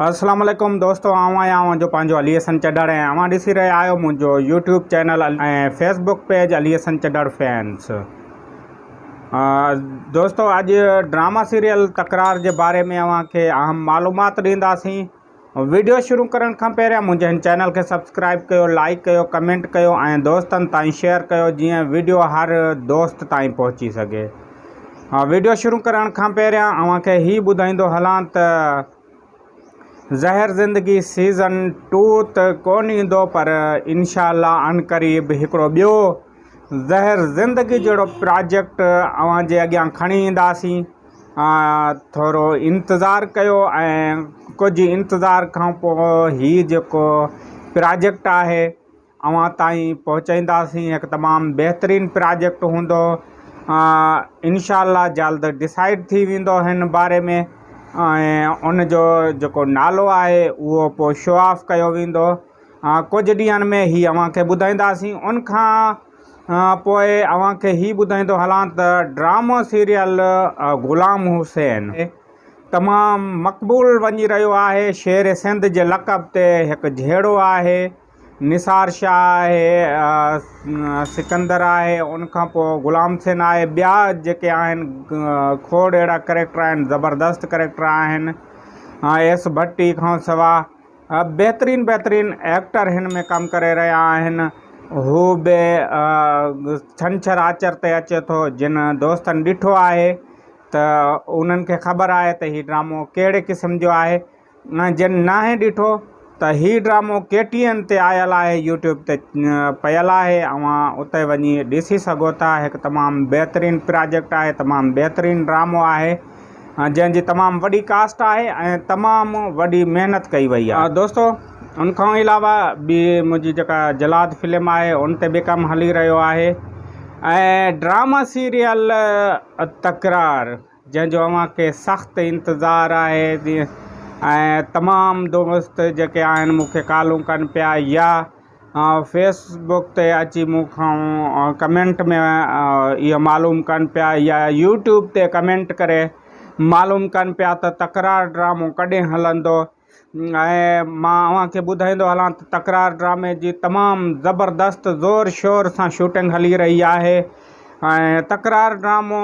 السلام عليڪم دوستو آئون آهيان اوهان جو پنهنجو علي حسن چڍڙ ۽ اوهان ڏسي رهيا آهيو منهنجو YouTube channel ۽ Facebook page Ali Hassan Chadhar fans دوستو اڄ ڊراما سيريل تڪرار جي باري ۾ اوهان کي اهم معلومات ڏينداسين ويڊيو شروع ڪرڻ کان پهريان منهنجي هن چينل کي سبسڪرائب ڪيو لائڪ ڪيو ڪمينٽ ڪيو ۽ دوستن تائين شيئر ڪيو جيئن ويڊيو هر دوست تائين پهچي سگهي ها ويڊيو شروع ڪرڻ کان پهريان اوهان کي هي ٻڌائيندو هلان ته زهر زندگي سيزن ٽو ته ڪون ايندو پر انشاء الله عن قريب هڪڙو ٻيو زهر زندگي جهڙو پراجيڪٽ اوهان جي اڳيان کڻي اينداسين ٿورو انتظار ڪيو ۽ ڪجهه انتظار کان پوء هي جيڪو پراجيڪٽ آهي اوهان تائين پهچائينداسين هڪ تمام بهترين پراجيڪٽ هوندو انشاء الله جلد ڊسائيڊ ٿي ويندو هن باري ۾ ۽ ان جو جيڪو نالو آهي اهو پوء شو آف ڪيو ويندو ڪجهه ڏينهن ۾ هي اوهان کي ٻڌائينداسين ان کان پوء اوهان کي هي ٻڌائيندو هلان ته ڊرامو سيريل غلام حسين تمام مقبول وڃي رهيو آهي شير سنڌ جي لقب تي هڪ جهيڙو آهي نثار شاهه آهي، سڪندر آهي، ان کان پوء غلام حسين آهي، ٻيا جيڪي آهن کوڙ اهڙا ڪريڪٽر آهن، زبردست ڪريڪٽر آهن، ايس ڀٽي کان سوا بهترين بهترين ايڪٽر هن ۾ ڪم ڪري رهيا آهن، هو به ڇنڇر آچر تي اچي ٿو، جن دوستن ڏٺو آهي ته انهن کي خبر آهي ته هي ڊرامو ڪهڙي قسم جو آهي. جن ناهي ڏٺو ته هي ڊرامو ڪي ٽي اين تي آيل آهي يوٽيوب تي پيل آهي اوهان اتي وڃي ڏسي سگهو ٿا هڪ تمام بهترين پراجيڪٽ آهي تمام بهترين ڊرامو آهي جنهن جي تمام وڏي ڪاسٽ آهي ۽ تمام وڏي محنت ڪئي وئي آهي دوستو ان کان علاوه به منهنجي جيڪا جلاد فلم آهي ان تي به ڪم هلي رهيو آهي ۽ ڊراما سيريل تڪرار جنهن جو اوهان کي سخت انتظار آهي ۽ تمام دوست جيڪي آهن مون کي ڪالون ڪن پيا يا فيس بڪ تي اچي مون کان ڪمينٽ ۾ اهو معلوم ڪن پيا يا يوٽيوب تي ڪمينٽ ڪري معلوم ڪن پيا ته تڪرار ڊرامو ڪڏهن هلندو ۽ مان اوهان کي ٻڌائيندو هلان ته تڪرار ڊرامي جي تمام زبردست زور شور سان شوٽنگ هلي رهي آهي ۽ تڪرار ڊرامو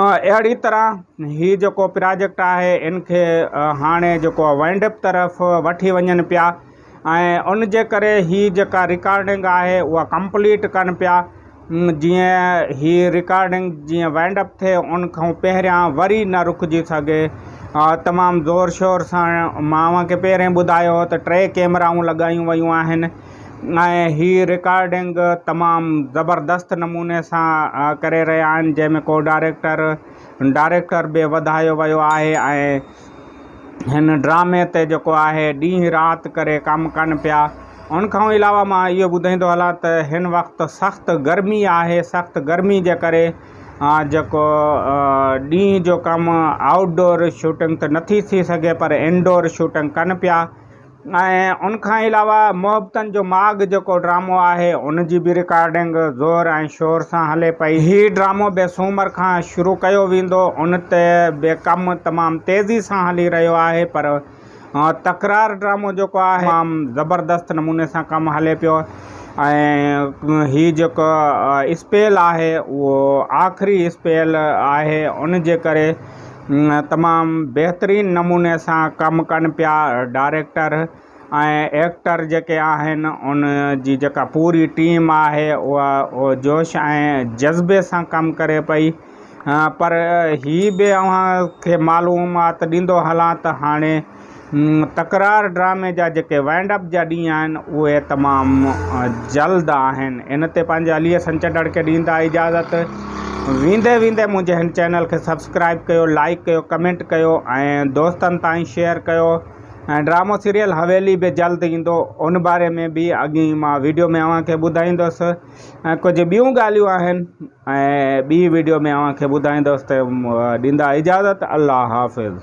اهڙي طرح هي جيڪو پراجيڪٽ آهي ان کي هاڻي جيڪو آهي وائنڊ اپ طرف وٺي وڃن پيا ۽ ان جي ڪري هي جيڪا رڪارڊنگ آهي اها ڪمپليٽ ڪن پيا جيئن هي رڪارڊنگ جيئن وائنڊ اپ ٿئي ان کان پهريان وري نه رڪجي سگهي تمام زور شور سان مان اوهان کي پهرين ٻڌايو هو ته ٽي ڪيمرائون لڳايون ويون آهن ۽ هي رڪارڊنگ تمام زبردست نموني سان ڪري رهيا آهن جنهن ۾ ڪو ڊائريڪٽر ڊائريڪٽر به وڌايو ويو آهي ۽ هن ڊرامي تي جيڪو آهي ڏينهن رات ڪري ڪم ڪن پيا ان کان علاوه مان اهو ٻڌائيندو هلان ته هن وقت سخت گرمي آهي سخت گرمي جي ڪري جيڪو ڏينهن جو ڪم آئوٽ ڊور شوٽنگ ته نٿي ٿي سگهي پر انڊور شوٽنگ ڪن پيا ۽ ان کان علاوه محبتن جو ماڳ جيڪو ڊرامو آهي ان جي به رڪارڊنگ زور ۽ شور سان هلي پئي. هي ڊرامو به سومر کان شروع ڪيو ويندو ان تي به ڪم تمام تيزي سان هلي رهيو آهي پر تڪرار ڊرامو جيڪو آهي تمام زبردست نموني سان ڪم هلي پيو ۽ هي جيڪو اسپيل آهي اهو آخري اسپيل آهي ان جي ڪري تمام بهترين نموني سان ڪم ڪن پيا ڊائريڪٽر ۽ ايڪٽر جيڪي آهن ان جي جيڪا پوري ٽيم آهي اها جوش ۽ جذبي سان ڪم ڪري پئي پر هي به اوهان کي معلومات ڏيندو هلان ته هاڻي تڪرار ڊرامي جا جيڪي وائنڊ اپ جا ڏينهن آهن اهي تمام جلد آهن ان تي پنهنجي علي حسن چٽڙ کي ڏيندا اجازت ويندي ويندي منهنجي هن چينل کي سبسڪرائب ڪيو لائڪ ڪيو ڪمينٽ ڪيو ۽ دوستن تائين شيئر ڪيو ۽ ڊرامو سيريل حويلي به جلد ايندو ان باري ۾ به اڳي مان ويڊيو ۾ اوهان کي ٻڌائيندوس ۽ ڪجهه ٻيون ڳالهيون آهن ۽ ٻي ويڊيو ۾ اوهان کي ٻڌائيندوس ته ڏيندا اجازت الله حافظ